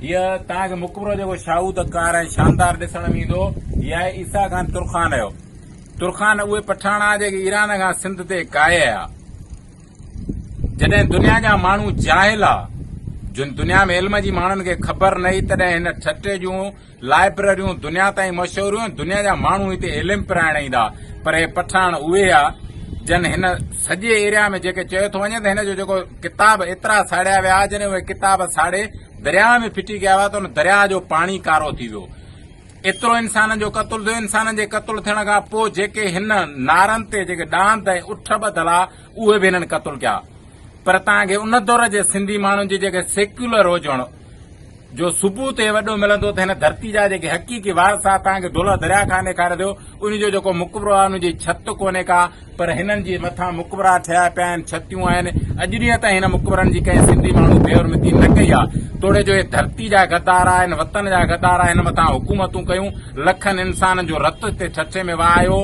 هيء توهان کي مقبرو جيڪو شاهوده ڪار ۽ شاندار ڏسڻ ۾ ايندو، هي آهي عيسيٰ خان ترخان جو. ترخان اهي پٺاڻا جيڪي ايران کان سنڌ تي ڪاهي آيا. جڏهن دنيا جا ماڻهو جاهل ها، جن دنيا ۾ علم جي ماڻهن کي خبر نه هئي، تڏهن هن ٺٽي جون لائبرريون دنيا تائين مشهور هيون، دنيا جا ماڻهو هتي علم پرائڻ ايندا، پر هي پٺاڻ اهي هيا جن هن سڄي ايريا ۾ جيڪي چيو ٿو وڃي ته هن جو جيڪو ڪتاب ايترا ساڙيا ويا جڏهن اهي ڪتاب ساڙي درياء ۾ ڦٽي ڪيا ويا ته ان درياء جو پاڻي ڪارو ٿي ويو ايترو انسانن جو قتل ٿيو انسانن جي قتل ٿيڻ کان پوء جيڪي هن نارن تي جيڪي ڏاند ۽ اٺ ٻڌل آ اهي به هنن قتل ڪيا پر تان کي ان دور جي سنڌي ماڻهن جي جيڪي سيڪيولر هجڻ جو ثبوت اهي وڏو ملندو ته هن ڌرتي جا جيڪي حقيقي وارثا توهان کي دولهه درياء کان ڏيکاري ڏيو ان جو جيڪو مقبرو آهي ان جي ڇت ڪونهي ڪا پر هنن جي مٿان مقبرا ٺهيا پيا آهن ڇتيون آهن اڄ ڏينهن تائين هن مقبرن جي ڪنهن سنڌي ماڻهو بي حرمتي نه ڪئي آهي توڙي جو هي ڌرتي جا غدار آهن وطن جا غدار آهن هن مٿان حڪومتون ڪيون لکن انسانن جو رت هتي ٺٺي ۾ وهايو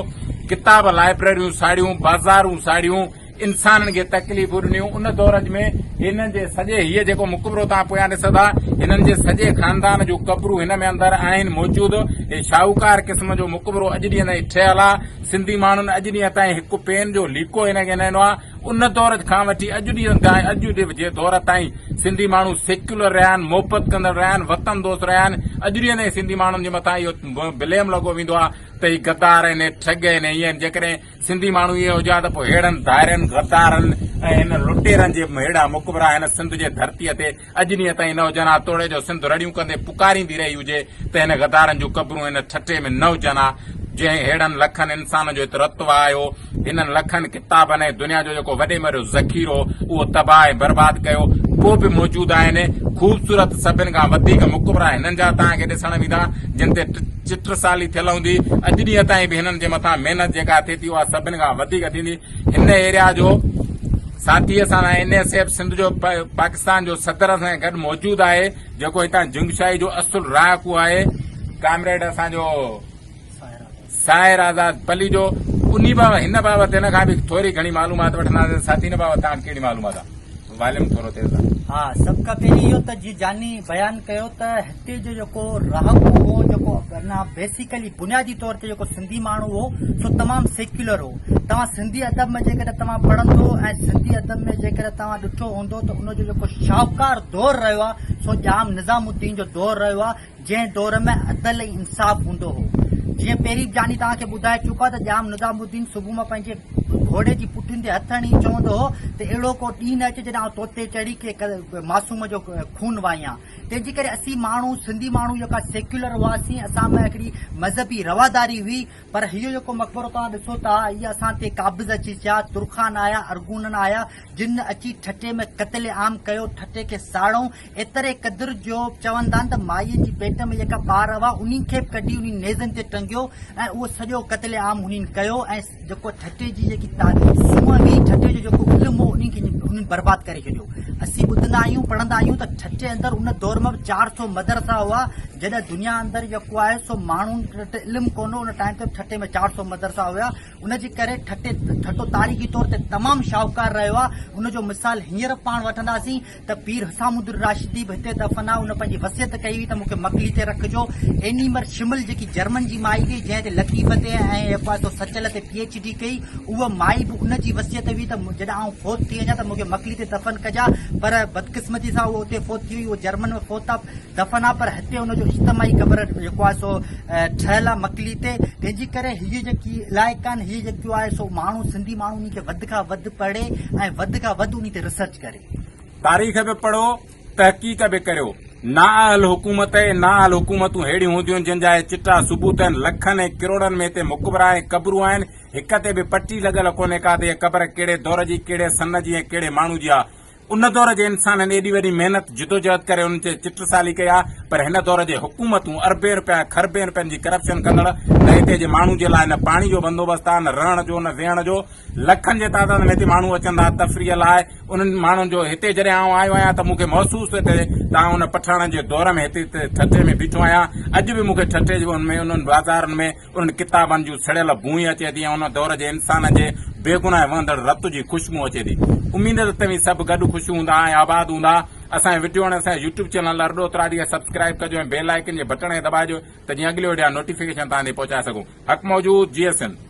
ڪتاب لائبريريون ساڙيون بازارون ساڙيون انسانن کي تڪليفون ڏنيون ان دور ۾ هنن جي سڄي هي جيڪو مقبرو توهان پويان ڏسو ٿا هنن جي سڄي خاندان جون قبرون هن ۾ اندر آهن موجود هي شاهوڪار قسم جو مقبرو اڄ ڏينهن تائين ٺهيل آهي سنڌي ماڻهن اڄ ڏينهن تائين هڪ پين جو ليڪو هن کي نه ڏنو آهي ان دور کان وٺي اڄ ڏينهن تائين اڄ جي دور تائين سنڌي ماڻهو سيڪيولر رهيا آهن محبت ڪندڙ رهيا آهن وطن دوست رهيا آهن اڄ ڏينهن تائين سنڌي ماڻهن جي مٿان اهو بليم لڳو ويندو آهي ته هي غدار آهن ٺڳ آهن هي آهن جيڪڏهن سنڌي ماڻهو اهي هجا ته پوء ههڙن ڌائرين، غدارن ۽ هن لٽيرن جي ههڙا مقبرا هن سنڌ جي ڌرتيء تي اڄ ڏينهن تائين نه هجن ها توڙي جو سنڌ رڙيون ڪندي پڪاريندي رهي هجي ته هن غدارن جون قبرون هن ٺٽي ۾ نه هجن ها جنهن ههڙن لکن انسانن جو هت رت وهايو، هنن لکن ڪتابن ۽ دنيا جو جيڪو وڏي ۾ وڏو ذخيرو اهو تباهه ۽ برباد ڪيو، پوء به موجود آهن. خوبصورت سڀن کان وڌيڪ مقبرا هنن جا توهان کي ڏسڻ ويندا جن تي چٽ سالي ٿيل هوندي، اڄ ڏينهن تائين به هنن جي مٿان محنت جيڪا ٿئي ٿي اها سڀن کان وڌيڪ ٿيندي، هن ايريا جو ساٿيء سان سان اين ايس ايف سنڌ جو پاڪستان جو صدر اسان سان گڏ موجود آهي، جيڪو هتان جنگ شاهي جو اصل رهاڪو آهي، ڪامريڊ اسان جو ساحر آزاد پليجو، انهي بابت هن بابت هن کان به ٿوري گهڻي معلومات وٺنداسين، ساٿي هن بابت توهان کي ڪهڙي معلومات آهي؟ واليوم ٿورو تيز آڻ. ها سڀ کان پهرين اهو ته جيئن جاني بيان ڪيو ته هتي جو جيڪو رهاڪو هو جيڪو ورنه بيسيڪلي بنيادي طور تي جيڪو سنڌي ماڻهو هو سو تمام سيڪيولر هو توهان سنڌي ادب ۾ جيڪڏهن توهان پڙهندو ۽ سنڌي ادب ۾ جيڪڏهن توهان ڏٺو هوندو ته ان جو جيڪو شاهوڪار دور رهيو آهي سو ڄام نظام الدين جو دور رهيو آهي جنهن دور ۾ عدل ۽ انصاف هوندو هو. جيئن پهرين به جاني توهان کي ٻڌائي چڪو آهي ته ڄام نظام الدين صبح مان پنهنجي گهوڙي جي پٺين تي هٿ هڻي چوندو هو ته اهڙو ڪو ڏينهن نه اچي جڏهن آئون تو تي چڙهي ڪنهن معصوم جو خون وهايان. تنهنجي ڪري اسين ماڻهو سنڌي ماڻهو جيڪا سيڪيولر هئاسين اسان ۾ هڪڙي مذهبي رواداري هئي پر هيء جيڪو مقبرو توهان ڏسو ٿا اهي اسان تي قابض اچي ٿيا، ترخان آيا، ارغونن آيا جن اچي ٺٽي ۾ قتل عام ڪيو، ٺٽي کي ساڙئون، ايتري قدر جو چون تان ته مائيء جي پيٽ ۾ جيڪا ٻار هئا، انهن کي به ڪڍي انهن نيزن تي ٽنگيو ۽ اهو سڄو قتل عام انهن ڪيو ۽ جيڪو ٺٽي جي جيڪي سونهن هئي، ٺٽي جو جيڪو علم هو، انهن کي انهن برباد ڪري ڇڏيو. اسين ٻڌندا آهيون، پڙهندا آهيون ته ٺٽي اندر ان دور ۾ به چار سؤ مدرسا هئا، جڏهن دنيا اندر جيڪو آهي سو ماڻهن وٽ علم ڪونه هو، ان ٽائيم تي ٺٽي ۾ چار سؤ مدرسا هيا، ان جي ڪري ٺٽي ٺٽو تاريخي طور تي تمام شاهوڪار رهيو آهي، ان جو مثال هينئر به پاڻ وٺنداسين. ته پير حسام الدين راشدي به هتي دفن آهي، ان پنهنجي وصيت ڪئي هئي ته مون کي مڪلي تي رکجو. ايني مر شمل جيڪي جرمن جي مائي هئي جنهن تي لطيف تي ۽ ايف آء سو سچل تي پي ايڇ ڊي ڪئي، اها مائي به ان جي وصيت هئي ته جڏهن آئون فوت ٿي وڃان ته مون کي مڪلي تي دفن ڪجان پر بدقسمتي سان اها اتي فوت ٿي وئي، اها جرمن ۾ فوت آهي دفن آهي پر هتي ان جو اجتماعي قبر جيڪو آهي سو ٺهيل آهي مڪلي تي تنهن جي ڪري هي جيڪي علائقا آهن هي جيڪو آهي سو ماڻهو سنڌي ماڻهو انهي کي وڌ کان وڌ پڙهي ۽ وڌ کان وڌ انهي تي ريسرچ ڪري. تاريخ به پڙهو، تحقيق به ڪريو. نااهل حڪومت ۽ نااهل حڪومتون ههڙيون هونديون جن جا اهي چٽا ثبوت آهن، لکن ۽ ڪروڙن ۾ هتي مقبرا ۽ قبرون آهن، هڪ تي به پٽي لڳل ڪونهي ڪا ته هيء قبر ڪهڙي دور جي، ڪهڙي سن جي ۽ ڪهڙي ماڻهو جي آ. ان دور جي انسانن ايڏي وڏي محنت، جدوجهد ڪري انهن جي چٽسالي ڪئي آ، پر هن دور جي حڪومتون اربين رپيا ۽ کربين رپين جي ڪرپشن ڪندڙ، نه هتي جي ماڻهو جي لاء نه پاڻي جو بندوبست آ، نه رهڻ جو، نه ويهڻ جو، لکن جي تعداد ۾ هتي ماڻهو اچن ٿا تفريح لاء انهن ماڻهن جو هتي جڏهن آئون آيو آهيان ته مون کي محسوس ٿو ٿئي ته آئون ان پٺاڻن جي دور ۾ هتي ٺٽي ۾ بيٺو آهيان اڄ به مون کي ٺٽي جي انهن انهن بازارن ۾ انهن ڪتابن جون سڙيل بوئي اچي ٿي ۽ ان دور جي انسانن جي بيگناهه ۽ وهندڙ رت جي خوشبو اچي ٿي اميد ته توهين سڀ گڏ خوش هوندا ۽ آباد هوندا اسان جي وڊيو ۽ اسان جي يوٽيوب چينل لرڊو تراڙي کي سبسڪرائيب ڪجو ۽ بيل آئيڪن جي بٽڻ کي دٻائجو ته جيئن اڳلي وڊيو جا نوٽيفڪيشن توهان تائين پهچائي سگهون حق موجود جيئي سنڌ